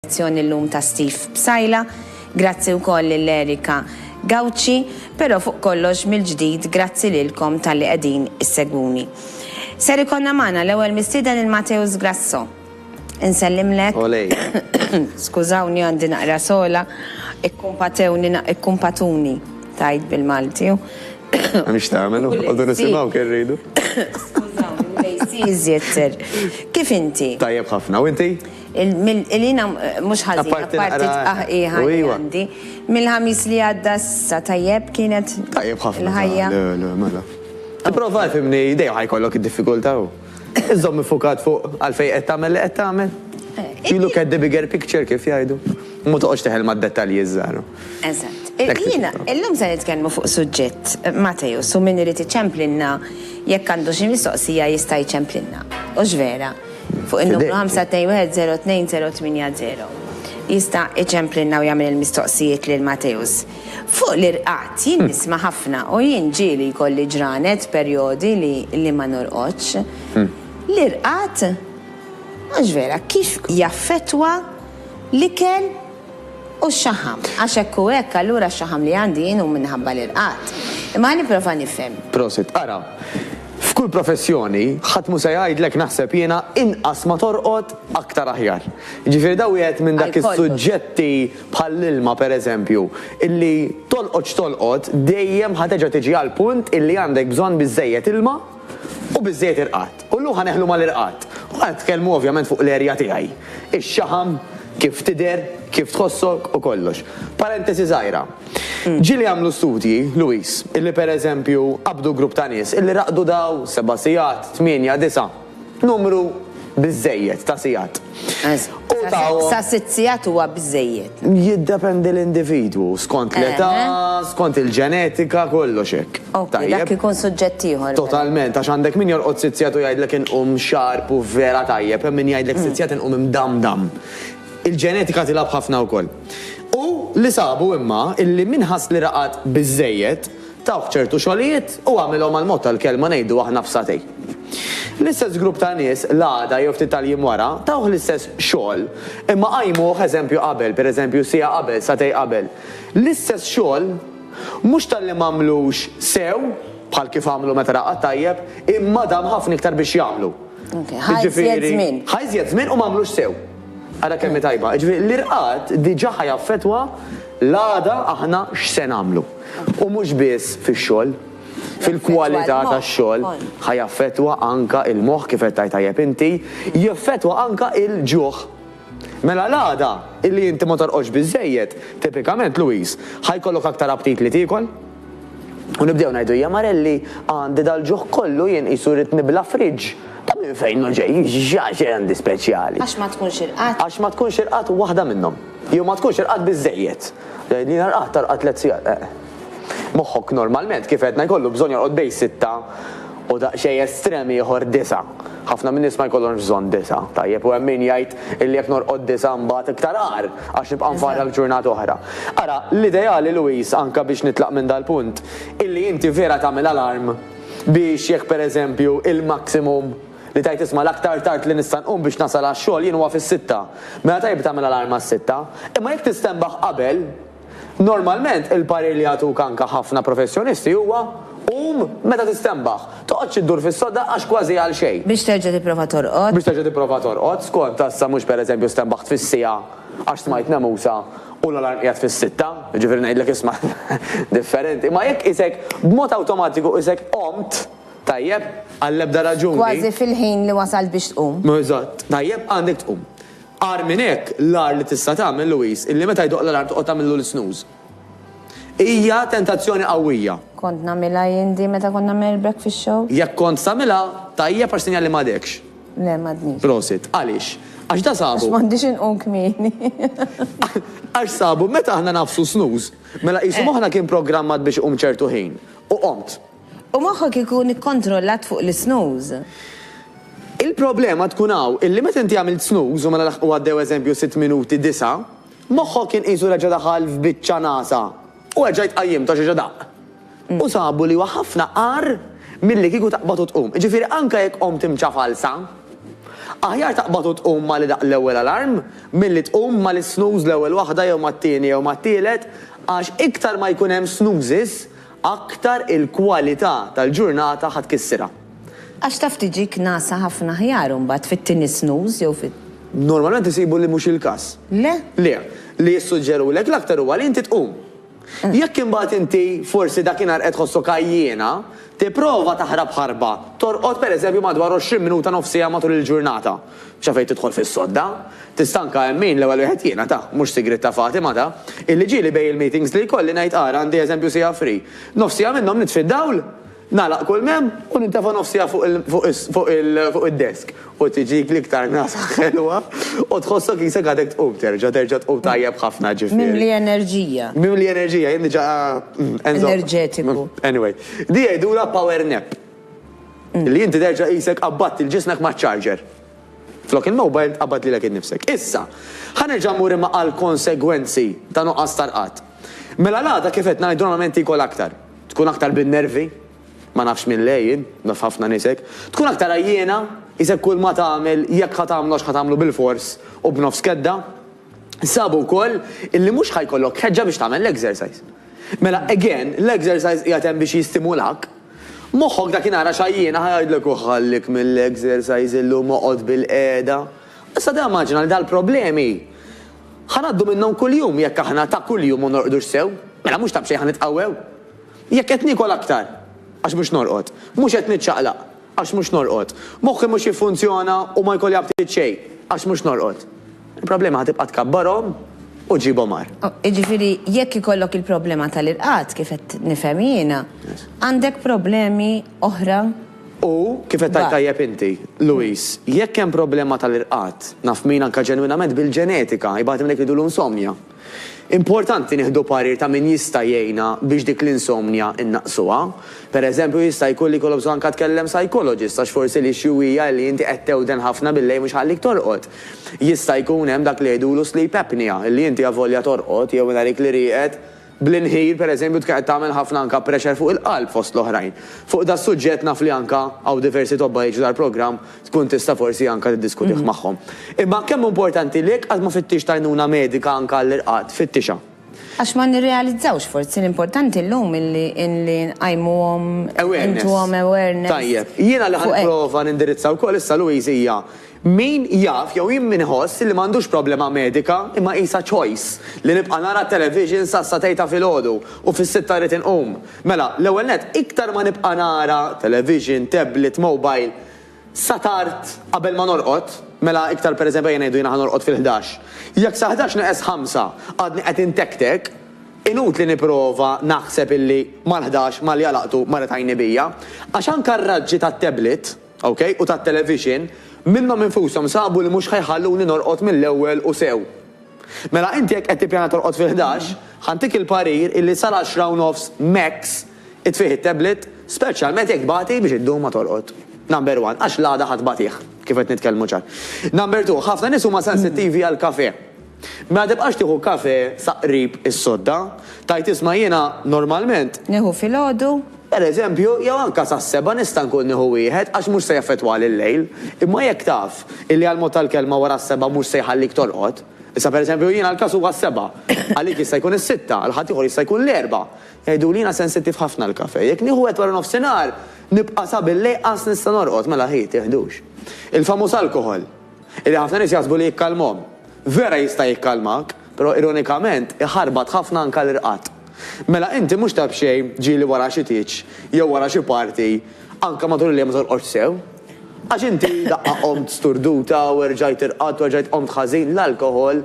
l-elezzjoni llum ta' Steve Psaila, grazzi wkoll lil Erica Gauci, però fuq kollox mill-ġdid grazzi lilkom talli qegħdin issegwuni. Ser ikollna magħna l-ewwel mistieden il-Mateus Grasso. Insellimlek. Olej. Skużawni għandi naqra sogħla, ikkumpatewni na ikkumpatuni tgħid bil-Malti u Mhix tagħmel, noqogħdu nisimgħu kemm rridu. Skużawni, l-AC iżjed ser. Kif inti? Tajjeb ħafna, u inti? Il-lina mhux ħażin, apparti tqaħqiħa li għandi. Mill-Ħamis li għadda sa tajjeb kienet il-ħajja. Tajjeb ħafna. Mela. Tipprova fimni dejjem ħajkollok id-diffikultà u iżżomm iffukat fuq għalfejn qed tagħmel li qed tagħmel. You look at the bigger picture kif jgħidu. U ma toqgħodx teħel mad-dettalji ż-żgħar. Eżatt. Jiena illum se nitkellmu fuq suġġett Mateo, su min irid iċemplilna jekk għandu xi mistoqsija jista' jċemplilna. Hux vera? Fuq in-numru 5210280, jista' iċemplilna u jagħmel il-mistoqsijiet lil Mateusz. Fuq l-irqad, jien nisma' ħafna u jien ġieli jkolli ġranet, perjodi li li ma norqodx. L-irqad, mhux vera, kif jaffettwa l-ikel? U x-xaħam. Għax hekk u hekk, allura x-xaħam li għandi jien hu minħabba l-irqad. Imma ħa nipprova nifhem. Prosit. Ara, f'kull professjoni, ħadd mhu se jgħidlek naħseb jiena inqas ma torqod, aktar aħjar. Jiġifieri da wieħed minn dak is-suġġetti bħall-ilma pereżempju, illi tolqod x'tolqod, dejjem ħa terġa' tiġi għall-punt illi għandek bżonn biżżejjed ilma, u biżżejjed irqad, u llum ħa neħlu mal-irqad. U ħa nitkellmu ovvjament fuq l-erja tiegħi. Ix-xaħam, kif tidher, kif tħossok u kollox. Parentesi żgħira. Ġieli għamlu studji, Louise, illi pereżempju qabdu grupp ta' nies illi raqdu daw seba' sigħat, tmienja, disa'. numru biżżejjed ta' sigħat. U tawhom. Sa sitt sigħat huwa biżżejjed. Jiddependi l-individwu, skont l-età, skont il-ġenetika, kollox hekk. Okej, dak ikun suġġett ieħor. Totalment, għax għandek min jorqod sitt sigħat u jgħidlek inqum sharp u vera tajjeb, hemm min jgħidlek sitt sigħat inqum imdamdam. Il-ġenetika tilgħab ħafna wkoll. U li sabu imma illi min ħass li raqad biżżejjed, Tawh ċertu xogħlijiet u għamilhom għall-mod tal-kelma ngħidu aħna f'sagħtejn. L-istess grupp ta' nies l-għada jew ftit tal-jiem wara tawh l-istess xogħol imma qajmuh eżempju qabel, pereżempju siegħa qabel, sagħtejn qabel. L-istess xogħol mhux talli m'għamlux sew bħal kif għamlu meta raqad tajjeb imma dam ħafna iktar biex jagħmlu. Ħa iżjed żmien. Ħa iżjed żmien u m'għamlux sew. Ara kemm hi tajba. Jiġifieri l-irqad diġà ħa jaffettwa l-għada aħna x'se nagħmlu. U mhux biss fix-xogħol. Fil-kwalità tax-xogħol. Ħa jaffettwa anke l-moħħ kif qed tgħid tajjeb inti. Jaffettwa anke l-ġuħ. Mela l-għada li inti ma torqodx biżżejjed, tipikament Louise, ħa jkollok aktar aptit li tiekol. U nibdew ngħidu hija marelli għandi dal-ġuħ kollu jien qisu rrid nibla' fridge. Ta' minn fejn hu ġej? X'għax għandi speċjali? Għax ma tkunx irqad? Għax ma tkunx irqad waħda minnhom. Jew ma tkunx irqad biżżejjed. Tgħidli jiena rqadt, arqadt tliet sigħat. Eh. Moħħok normalment kif għedna jkollu bżonn jorqod bejn sitta u daqsxejn estrem ieħor disa'. Ħafna min-nies ma jkollhomx bżonn disa', tajjeb, u hemm min jgħid illi jekk norqod disa' mbagħad iktar agħar. Għax nibqa' nfarrak ġurnata oħra. Ara, l-ideali, Louise, anke biex nitlaq minn dal-punt, illi inti vera tagħmel alarm biex jekk pereżempju il-maximum li tgħid isma' l-aktar tard li nista' nqum biex nasal għax-xogħol jien huwa fis-sitta. Mela tajjeb li tagħmel alarm għas-sitta. Imma jekk tistenbaħ qabel, Normalment, il-parir li jagħtuk anke ħafna professjonisti huwa, Qum meta tistenbaħ. Toqgħodx iddur fis-sodda għax kważi għal xejn. Biex terġa' tipprova torqod. Biex terġa' tipprova torqod, skont assa mhux pereżempju stenbaħt fis-siegħa għax smajt nemusa u l-alarm qiegħed fis-sitta, jiġifieri ngħidlek isma' differenti. Imma jekk qisek b'mod awtomatiku qisek qomt, tajjeb, għall-ebda raġuni. Kważi fil-ħin li wasalt biex tqum. Eżatt. Tajjeb, għandek tqum. Agħar minn hekk, l-agħar li tista' tagħmel, Louise, illi meta jdoqq l-alarm toqgħod tagħmillu l-snooze. Hija tentazzjoni qawwija. Kont nagħmilha jien din meta kont nagħmel il-breakfast show? Jekk kont tagħmilha, tajjeb għax sinjal li m'għadekx. Le, m'għadnix. Prosit. Għaliex? Għax da sabu. Għax m'għandix inqum kmieni. Għax sabu meta aħna ngħaffsu snooze, mela qisu moħħna kien programmat biex iqum ċertu ħin, u qomt. U moħħok ikun ikkontrollat fuq l-isnooze. Il-problema tkun hawn illi meta inti għamilt snooze u mela laħqu għaddew eżempju sitt minuti, disgħa, moħħok kien qisu reġa' daħal f'biċċa nagħsa u erġajt qajjimtu għax reġa' daqq. U sabu li huwa ħafna agħar milli kieku taqbad u tqum. Jiġifieri anke jekk qomt imċafalsa, aħjar taqbad u tqum ma' li daqq l-ewwel alarm milli tqum ma' l-isnooze l-ewwel waħda jew mat-tieni jew mat-tielet għax iktar ma jkun hemm snoozes, Aktar il-kwalità tal-ġurnata ħa tkissirha. Għax taf tiġik ngħasa ħafna aħjar imbagħad fit-tieni snooze jew fi. Normalment isibu li mhux il-każ. Le? Le. Li jissuġġerulek l-aktar huwa li inti tqum. Jekk imbagħad inti forsi dakinhar qed tħossok għajjiena, tipprova taħrab ħarba, torqod pereżempju madwar 20 minuta nofs siegħa matul il-ġurnata. Xa fejn tidħol fis-sodda. Tista' anke hemm min l-ewwel wieħed jiena ta', mhux sigriet ta' Fatima ta', illi ġieli bejn il-meetings li jkolli ngħid ara għandi eżempju siegħa free. Nofs siegħa minnhom nitfi d-dawl, nagħlaq kull m'hemm u nintefa' nofs siegħa fuq id-desk u tiġik l-iktar nagħsa ħelwa u tħossok isek għadek tqum terġa', terġa' tqum tajjeb ħafna ġifieri. Mimli enerġija. Mimli enerġija, jien diġa' enerġetiku. Anyway. Di jgħidulha power nap. Li inti terġa' qisek qabbadt lil ġismek maċ-charger. Flok il-mobile tqabbad lilek innifsek. Issa, ħa nerġa' mmur imma għall-konsegwenzi ta' nuqqas ta' rqad. Mela l-għada kif qed ngħid normalment tiekol aktar. Tkun aktar bin-nervi, ma nafx minn le jien, naf ħafna nies hekk. Tkun aktar għajjiena, qisek kulma tagħmel jekk ħa tagħmlu għax ħa tagħmlu bil-fors u b'nofs kedda. Sabu wkoll illi mhux ħa jkollok ħeġġa biex tagħmel l-exercise. Mela again, l-exercise qiegħed hemm biex jistimulak. Moħħok dakinhar għax għajjiena ħa jgħidlek u ħallik mill-exercise illum oqgħod bil-qiegħda. Issa timmaġina li dal-problemi ħa ngħaddu minnhom kuljum jekk aħna ta' kuljum ma norqdux sew. Mela mhux ta' b'xejn ħa nitqawwew. Jekk qed niekol aktar għax mhux norqod. Mhux qed niċċaqlaq għax mhux norqod. Moħħi mhux jiffunzjona u ma jkolli apptit xejn għax mhux norqod. Il-problema ħa tibqa' tkabbarhom u ġġibhom agħar. Jiġifieri jekk ikollok il-problema tal-irqad, kif qed nifhem jiena, għandek problemi oħra. U, kif qed tgħid tajjeb inti, Louis, jekk hemm problema tal-irqad, naf min anke ġenwinament bil-ġenetika, jibgħat hemm dak li ngħidulu insomnia. Importanti nieħdu parir ta' min jista' jgħinna biex dik l-insomnia nnaqqsuha. Per eżempju, jista' jkun li jkollok bżonn anka tkellem psychologist għax forsi l-issue hija li inti qed tewden ħafna billejl mhux iħallik torqod. Jista' jkun hemm dak li jgħidulu sleep apnea, li inti avolja torqod jew minn għalik li rieqed bl-inħil per eżempju tkun qed tagħmel ħafna anka pressure fuq il-qalb fost l-oħrajn. Fuq das-suġġett naf li anka hawn diversi tobba jiġu dal-programm tkun tista' forsi anke tiddiskutih magħhom. Imma kemm hu importanti li jekk qatt ma fittixt għajnuna medika anke għall-irqad, fittixha. Għax ma nirrealizzawx forsi l-importanti llum illi nqajmuhom, intuhom awareness. Tajjeb. Jiena li ħa nipprova nindirizza wkoll issa Louise hija min jaf jew jien min iħoss illi m'għandux problema medika imma qisha choice li nibqa' nara t-television sas-sa tgħid ta' filgħodu u fis-sitta rrid inqum. Mela, l-ewwel nett, iktar ma nibqa' nara television, tablet, mobile sa tard qabel ma norqod, mela iktar pereżempju ejja ngħidu jiena ħa norqod fil-ħdax, jekk sa ħdax neqes ħamsa għadni qed intektek, inutli nipprova naħseb illi mal-ħdax, mal-jalaqtu, marret għajni bija. Għax anke r-raġġi tat-tablet, OK, u tat-television, minnhom infushom sabu li mhux ħa jħalluni norqod mill-ewwel u sew. Mela inti jekk qed tippjana torqod fil-ħdax, ħa ntik il-parir illi sal-għaxra u nofs max itfih it-tablet, speċjalment jekk tbati biex iddum ma torqod. Number one, għax l-għada ħa tbatih, kif qed nitkellmu ċar. Number two, ħafna nies huma sensittivi għall-kafè. Mela tibqax tieħu kafè sa qrib is-sodda. Tgħid isma' jiena normalment. Nieħu filgħodu. Pereżempju, jew anke sas-sebgħa nista' nkun nieħu wieħed għax mhux se jaffettwali l-lejl. Imma jekk taf illi għall-mod tal-kelma wara s-sebgħa mhux se jħallik torqod. Issa pereżempju jiena l-każ huwa s-sebgħa. Għalik jista' jkun is-sitta, għal ħaddieħor jista' jkun l-erbgħa. Jgħiduli jiena sensittiv ħafna għall-kafè. Jekk nieħu wieħed waranofsinhar nibqa' sabillejqas nista' norqod. Mela hi, tiħdux. Il-famuż alkoħol. Illi ħafna nies jaħsbu li jikkalmhom. Vera jista' jikkalmak, però ironikament iħarbat ħafna anke l-irqad. Mela inti mhux ta' b'xejn ġieli wara xi tieġ jew wara xi party anke matul il-lejl ma torqodx sew. Għax inti daqqa qomt sturduta u erġajt irqadt u erġajt qomt ħażin, l-alkoħol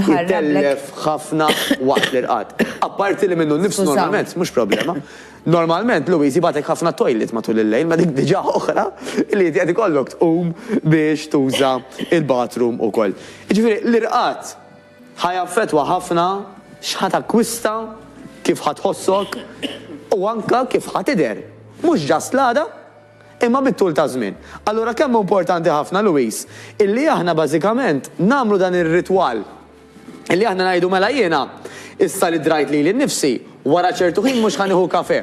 itellef ħafna waqt l-irqad. Apparti li minnu nnifsu normalment mhux problema. Normalment Louise jibgħatlek ħafna t-toilet matul il-lejl ma dik diġà oħra li inti qed ikollok tqum biex tuża l-bathroom ukoll. Jiġifieri l-irqad ħa jaffettwa ħafna x'ħa takkwista, kif ħa tħossok u anke kif ħa tidher. Mhux just l-għada. imma bit-tul taż-żmien. Allura kemm hu importanti ħafna, Louise, illi aħna bażikament nagħmlu dan ir-ritwal, illi aħna ngħidu mela jiena, issa li drajt lili nnifsi, wara ċertu ħin mhux ħa nieħu kafè.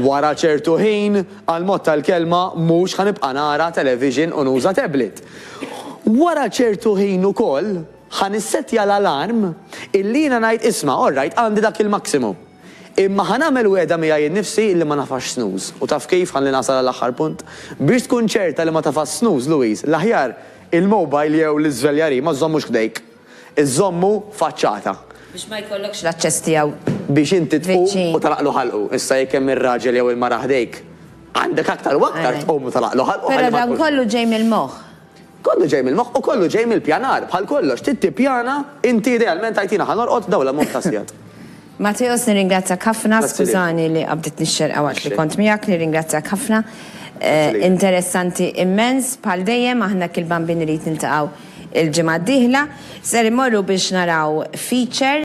Wara ċertu ħin, għall-mod tal-kelma, mhux ħa nibqa' nara television u nuża tablet. Wara ċertu ħin ukoll, ħa nissettja l-alarm illi jiena ngħid isma', all right, għandi dak il-maximum. Imma ħa nagħmel wegħda miegħi innifsi li ma nagħfax snooze. U taf kif, ħalli nasal għall-aħħar punt. Biex tkun ċerta li ma tafax snooze, Louise, l-aħjar il-mobile jew l-iżveljarij ma żżommux ħdejk. Iżżommu faċċata. Biex ma jkollokx l-aċċess tiegħu viċin. Biex inti tqum u tagħlaqlu ħalqu. Issa jekk hemm ir-raġel jew il-mara ħdejk, għandek aktar u aktar tqum u tagħlaqlu ħalqu ħalli ma tkunx. Però dan kollu ġej mill-moħħ. Kollu ġej mill-moħħ u kollu ġej mill-pjanar. Bħal kollox, trid tippjana inti idealment tgħid jiena ħa norqod dawn l-ammont ta' sigħat. Matteos nirringrazzjak ħafna, skużani li qabditni x-xerqa waqt li kont miegħek, nirringrazzjak ħafna. Interessanti immens bħal dejjem, aħna hekk il-Bambin irid niltaqgħu l-ġimgħa d-dieħla. Ser immorru biex naraw feature.